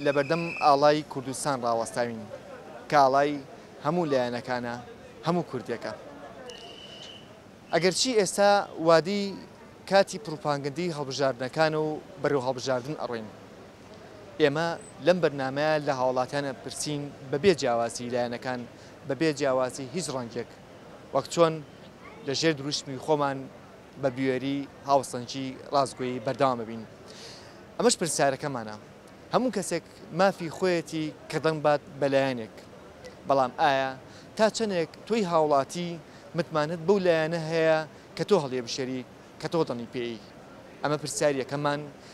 لەبەردەم ئاڵای کوردستان ڕاوەستاوین کە ئاڵای هەموو لایەنەکانە، هەموو کوردێکە. ئەگەرچی ئێستا وادەی کاتی پڕوپاگەندەی هەڵبژاردنەکانە و بەرەو هەڵبژاردن ئەڕۆین، ئێمە لەم بەرنامەیە لە هاوڵاتیان ئەپرسین بەبێ جیاوازی لایەنەکان، بەبێ جیاوازی هیچ ڕەنگێک، وەک چۆن لە ژێر دروشمی خۆمان، بە بوێری هاوسەنگی ڕاستگۆیی بەردەوام بین ئەمەش پرسیارەکەمانە هەموو کەسێک مافی خۆیەتی کە دەنگ بات بە لایەنێک بەڵام ئایا تا چەندێک تۆی هاوڵاتی متمانەت بەو لایەنە هەیە کە تۆ هەڵێبشێری کە تۆ دەنگی پێی ئەمە پرسیاریەکەمان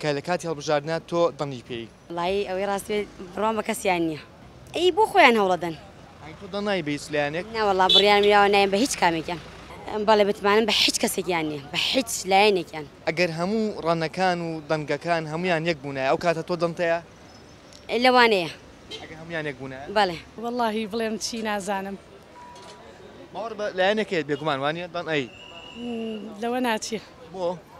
کە لە کاتی هەڵبژاردنا تۆ دەنگی پێی. وەڵایی ئەوەی ڕاست بێت بڕوام بە کەسیان نیە ئەی بۆ خۆیان هەوڵەدەن. ئەی تۆ دەنگ نای بە هیچ لایەنێک؟ نەوەڵا بڕیارم یاوە نایم بە هیچ کامێکیان. بەڵێ متمانەم بە هیچ کەسێکیان نیە بە هیچ لایەنێکیان. ئەگەر هەموو ڕەنەکان و دەنگەکان هەموویان یەک بوونایە ئەو کاتە تۆ دەنتەیە؟ لەوانەیە. ئەگەر هەموویان یەک بوونایە؟ بەڵێ. وەڵاهی بڵێم چی نازانم. باوەڕ بە لایەنێک هەیە بێگومان وانیە دەنگ ئەی. لەوە ناچێ. بۆ؟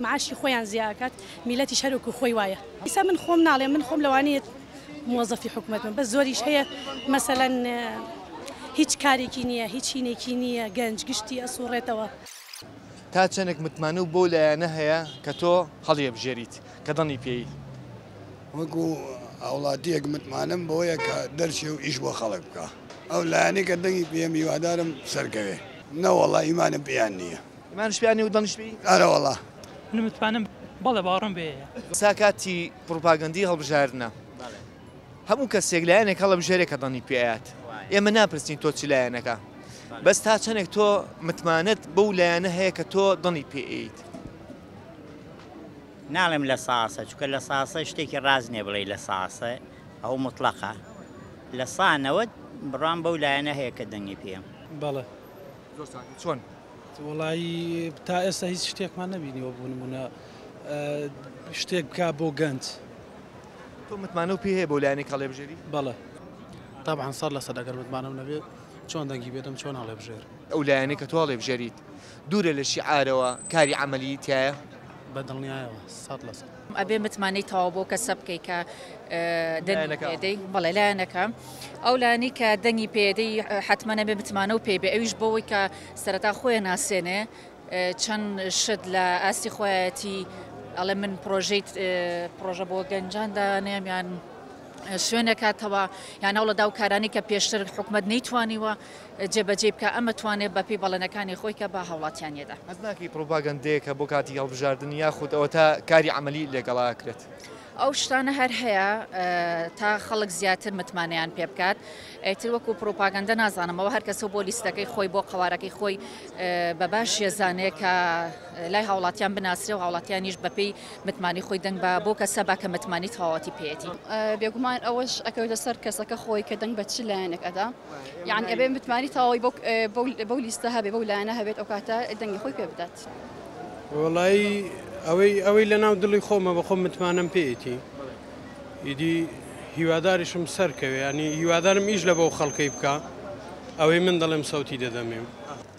معاشی خۆیان زیا ئەکات میلەتیش هەر وەکو خۆی وایە ئیسا من خۆم ناڵێم من خۆم لەوانەیە موەزەفی حکومەت بم بەس زۆریش هەیە مەسەلەن هیچ کارێکی نییە هیچ هینێکی نییە گەنج گشتی ئەسوڕێتەوە. تا چەنێک متمانەو بەو لایەنە هەیە کە تۆ هەڵیەبژێریت کە دەڵنی پێی؟ وەکو هاوڵاتیەک متمانەم بەوەیە کە دەرچێ و ئیش بۆ خەڵک بکا ئەو لایەنەی کە دەنگی پێیەم هیوادارم سەرکەوێ نەوەڵا ئیمانم پێیان نییە. ئیمانش پیا نیە و دڵنیش پێی ئارەوەڵا. من متمانەم بەڵێ باوەڕم بێ یە. سا کاتی پڕوپاگەندی هەڵبژاردنە هەموو کەسێک لایەنێک هەڵەبژێرێ کە دڵنی پێ ئەیات ئێمە ناپرسین تۆ چ لایەنەکە بەس تا چەنێک تۆ متمانەت بەو لایەنە هەیە کە تۆ دڵنی پێ ئەیت. ناڵێم لە ساسە چونکە لە ساسە شتێکی ڕاست نیە بڵێی لە ساسە ئەو موتڵەقە لە سا نەوەد بڕوام بەو لایەنە هەیە کە دەنگی پێم. بەڵێ. زۆر ساکە چۆن؟ وەڵایی تا ئێستا هیچ شتێکمان نەبینیوە بۆ نمونە شتێک بکا بۆ گەنج تۆ متمانە و پێ هەیە بۆ لایەنێک هەڵێبژێری بەڵێ طبعا سەر لەسەر ئەگەر متمانەم نەبێت چۆن دەنگی بێتم چۆن هەڵێبژێر ئەو لایەنێک کە تۆ هەڵێبژێریت دوورە لە شیعارەوە کاری عەمەلی تایە؟ بە دڵنیایەوە سەد لە سەد. ئەبێ متمانەی تەواو بەو کەسە بکەی کە دەنگی پێدەی بەڵێ لایەنەکە ئەو لانی کە دەنگی پێدەی حتممە نەبێ متمانە و پێبێ ئەویش بەوەی کە سەرەتا خۆیان ناسێنێ چەند شت لە ئاستی خۆیەتی ئەڵێ من پرۆژیت پرۆژە بۆ گەنجان دانێمیان شوێنێکاتەوە یانەوڵەدا و کارانی کە پێشتر حکومت نەیتوانیوە جێبەجێی بکا ئەمە توانێ بە پێی بەڵێنەکانی خۆی کە بە هاوڵاتیانی یەدا. هەست ناکەی پڕوپاگەندەیەکە بۆ کاتی هەڵبژاردن یاخود ئەوەتا کاری عەمەلی لەگەڵا ئەکرێت؟ ئەو شتانە هەر هەیە تا خەڵک زیاتر متمانەیان پێ بکات ئیتر وەکو پڕوپاگەندە نازانم ئەوە هەر کەسە بۆ لیستەکەی خۆی بۆ قەوارەکەی خۆی بە باش یەزانێ کە لای هاوڵاتیان بناسرێ و هاوڵاتیانیش بە پێی متمانی خۆی دەنگ بە بۆ کەسە با کە متمانی تەواوەتی پێیەتی. بێگومان ئەوەش ئەکەوێتە سەر کەسەکە خۆی کە دەنگ بە چ لایەنێک ئەدا. یانی ئەبێ متمانی تەواوی بەو بەو بەو لیستە هەبێ بەو لایەنە هەبێت ئەو کاتە دەنگی خۆی پێ بدات وەڵایی ئەوەی ئەوەی لە ناو دڵی خۆمە بە خۆم متمانەم پێیەتی ئیدی هیواداریشم سەرکەوێ ینی هیوادارم ئیش لە بەو خەڵکەی بکە ئەوەی من دەڵێم سەوتی دەدەمێ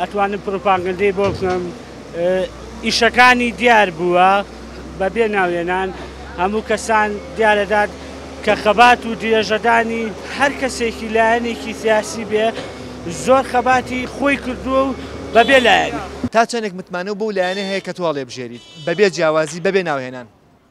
ئەتوانم پروپاگەندەی بۆ بکەم ئیشەکانی دیار بووە بەبێ ناوێنان هەموو کەسان دیارەدات کە خەبات و درێژەدانی هەر کەسێکی لایەنێکی سیاسی بێ زۆر خەباتی خۆی کردووە و بەبێ لایەن. تا چەندێک متمانە و بەو لایەنە هەیە کە تۆ هەڵێبژێریت بەبێ جیاوازی بەبێ ناوهێنان.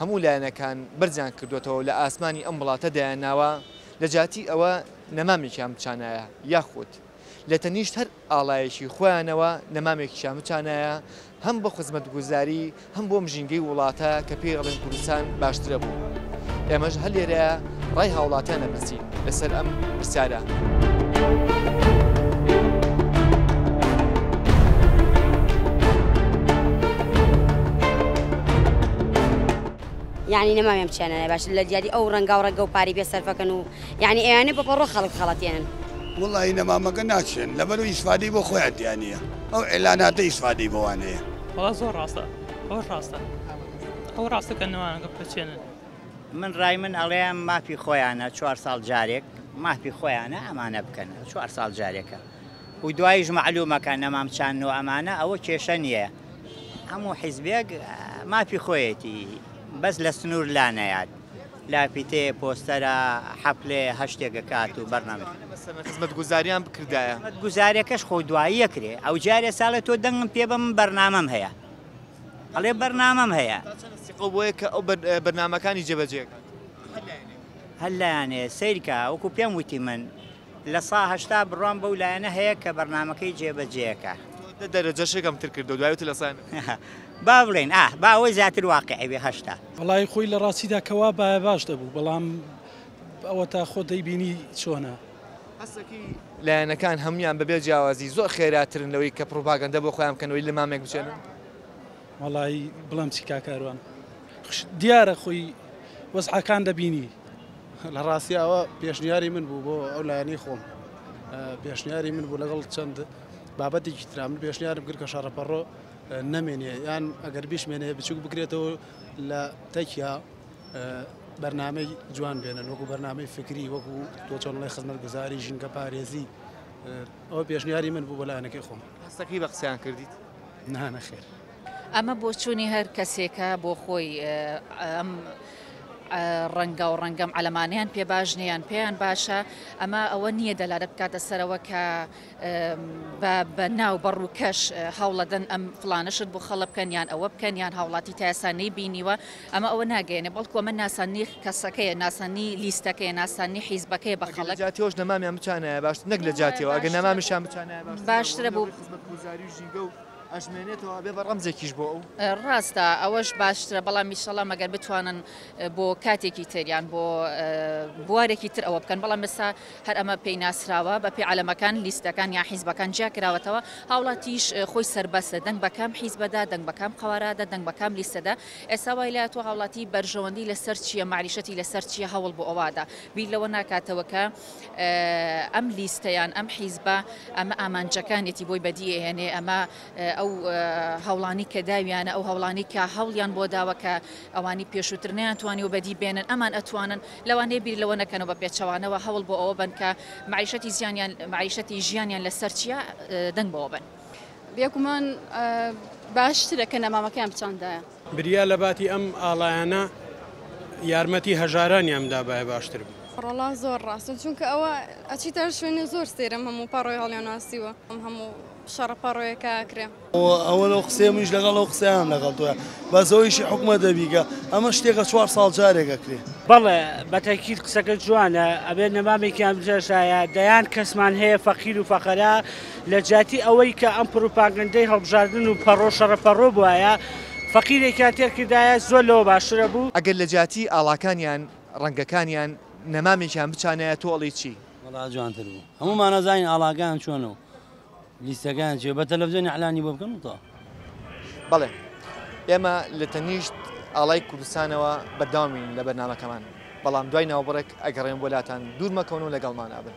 هەموو لایەنەکان بەرزیان کردۆتەوەو لە ئاسمانی ئەم وڵاتە دایانناوە لە جاتی ئەوە نەمامێکیان بچانایە یاخود لە تەنیشت هەر ئاڵایەکی خۆیانەوە نەمامێکیان بچانایە هەم بۆ خزمەتگوزاری هەم بۆم ژینگەی وڵاتە کە پێی ئەڵێن کوردستان باشترەبوو ئێمەش هەر لێرە ڕای هاوڵاتیان ئەپرسین لەسەر ئەم پرسیارە. من ڕای من ئەڵێم مافی خۆیانە چوار ساڵ جارێک مافی خۆیانە ئەمانە بکەن چوار ساڵ جارێکە و دوایش معلومەکە نەمام چان و ئەمانە ئەوە کێشە نییە هەموو حیزبێک مافی خۆیەتی بەس لە سنوور لا نەیات لافیتێ پۆستەرە حەفلێ هەشتێکە کات و بەرنامە خزمەت گوزاریان بکردایە گوزارەکەش خۆ دواییە کرێ ئەو جارێ ساڵێ تۆ دەنگم پێ بەم بەرنامەم هەیە ئەڵێ بەرنامەم هەیە. تا چەند سیقەو بۆیە کە ئەو بەرنامەکانی جێ بەجێ ئەکات هەر لایەنێک. هەر لایەنێ سەیرکە وەکو پێم وتی من لە سا هەشتا بڕوام بەو لایەنە هەیە کە بەرنامەکەی جێ بەجێ ئەکا. تۆ دە دەرەجەشێک ئەم تر کردەوە دوای وتی لە سا. با بڵێین ئاه با ئەوە زیاتر واقعی بێ هەشتا. وەڵایی خۆی لە ڕاستیدا کە وابایە باش دەبوو بەڵام ئەوەتا خۆت دەیبینی چۆنە. هەستەکەی لایەنەکان هەموویان بەبێ جیاوازی زۆر خێراترن لەوەی کە پڕوپاگەندە بۆ خۆیان بکەن و لە مامێک بچێنن. وەڵایی بڵێم چی کاک کاروان دیارە خۆی وەزعەکان دەبینی. لە ڕاستی ئەوە پێشنیاری من بوو بۆ ئەو لایەنەی خۆم پێشنیاری من بوو لەگەڵ چەند بابەتێکی ترا من پێشنیارم کرد کە شەڕەپەڕۆ نەمێنێ یان ئەگەر بیشمێنێ بچووک بکرێتەوە لە تەکیا بەرنامەی جوان بێنن وەکو بەرنامەی فکری وەکو تۆ چۆنڵی خزمەت گوزاری ژینگە پارێزی ئەو پێشنیاری من بوو بەلایەنەکەی خۆم هەستەکەی بە قسەیان کردیت نانە خێر ئەمە بۆچوونی هەر کەسێکە بۆ خۆی ئەم ڕەنگە و ڕەنگەم ئەلەمانیان پێ باش نیان پێیان باشە ئەمە ئەوە نییە دەلارە بکاتە سەرەوە کە بە بە ناو بە ڕووکەش هەوڵەدەن ئەم فلانە شت بۆ خەڵە بکەن یان ئەوە بکەن یان هاوڵاتی تاسا نەی بینیوە ئەمە ئەوە ناگەێنێ بەڵکو ئەمە ناسانی کەسەکەیە ناسانی لیستەکەی ناسانی حیزبەکەی بە خەڵک جاتیۆش نەمامیان بچانایە باش نەک لە جاتیەوە ئەگە نەمامیشان بچانایە باشترە بۆ گوزاری ژینگە و ئەژمێنێتەوە بێ بە ڕەمزێکیش بۆ ئەو ڕاستە ئەوەش باشترە بەڵام میشەڵام مەگەر بتوانن بۆ کاتێکی تریان بۆ بوارێکی تر ئەوە بکەن بەڵام مەسا هەر ئەمە پێی ناسراوە بە پێ عەلەمەکان، لیستەکان یان حیزبەکان جیا کراوەتەوە، هاوڵاتیش خۆی سەربەستە دەنگ بە کام حیزبەدا، دەنگ بە کام قەوارەدا، دەنگ بە کام لیستەدا، ئێستا وای لاتووە هاوڵاتی بەرژەوەندی لە سەر چییە، مەعریشەتی لە سەر چییە، هەوڵ بۆ ئەوە ئەدا، بیر لەوە ناکاتەوە کە ئەم لیستە یان ئەم حیزبە ئەمە ئامانجەکانێتی بۆی بەدی ئەهێنێ، ئەمە ئەو هەوڵانەی کە داویانە، ئەو هەوڵانەی کە هەوڵیان بۆ داوە کە ئەوانی پێشووتر نەیانتوانیوە بەدی بێنن، ئەمان ئەتوانن. لەوانەیە بیر لەوە نەکەن و بە پێچەوانەوە هەوڵ بۆ ئەوە بەن کە مەعیشەتی زیانیان مەعیشەتی ژیانیان لە سەر چیا دەنگ بەوە بەن. بێگومان باشترە کە نەمامەکەیان بچاندایە. بریا لە باتی ئەم ئاڵایانە یارمەتی هەژارانیان بدابایە باشتر بوو. ڕۆڵا زۆر ڕاستە چونکە ئەوە ئەچیتە شوێنێ زۆر سەیرە ئەم هەموو پەڕۆی هەڵیاناسیوە ئەم هەموو شەڕە پەڕۆیە کە ئەکرێ. ئەوە لەو قسەیە منیش لەگەڵ ئەو قسەیان لەگەڵ تۆیە بەس ئەو ئیشی حکومە دەبیگە ئەمە شتێکە چوار ساڵ جارێک ئەکرێ بەڵێ بە تەکید قسەکە جوانە ئەبێت نەمامێکیان بجێشایە دەیان کەسمان هەیە فەقیر و فەقەرا لە جیاتی ئەوەی کە ئەم پروپاگەندەی هەڵبژاردن و پەڕۆ شەڕە پەڕۆ بوایە فەقیرێکیان تێر کردایە زۆر لەوە باشترە بوو. ئەگەر لە جیاتی ئاڵاکانیان ڕەنگەکانیان نەمامێکیان بچانایە تۆ ئەڵێی چی؟ وەڵا جوانتر بوو هەموومان ئەزانین ئاڵاکەیان چۆنە و لیستەکان چیە بە تەلەفزیۆن اعلانی بۆ بکەن وتە. بەڵێ ئێمە لە تەنیشت ئاڵای کوردستانەوە بەردەوامین لە بەرنامەکەمان بەڵام دوای ناوبڕێک ئەگەڕێم بۆ لاتان دوور مەکەون و لەگەڵمانا بن.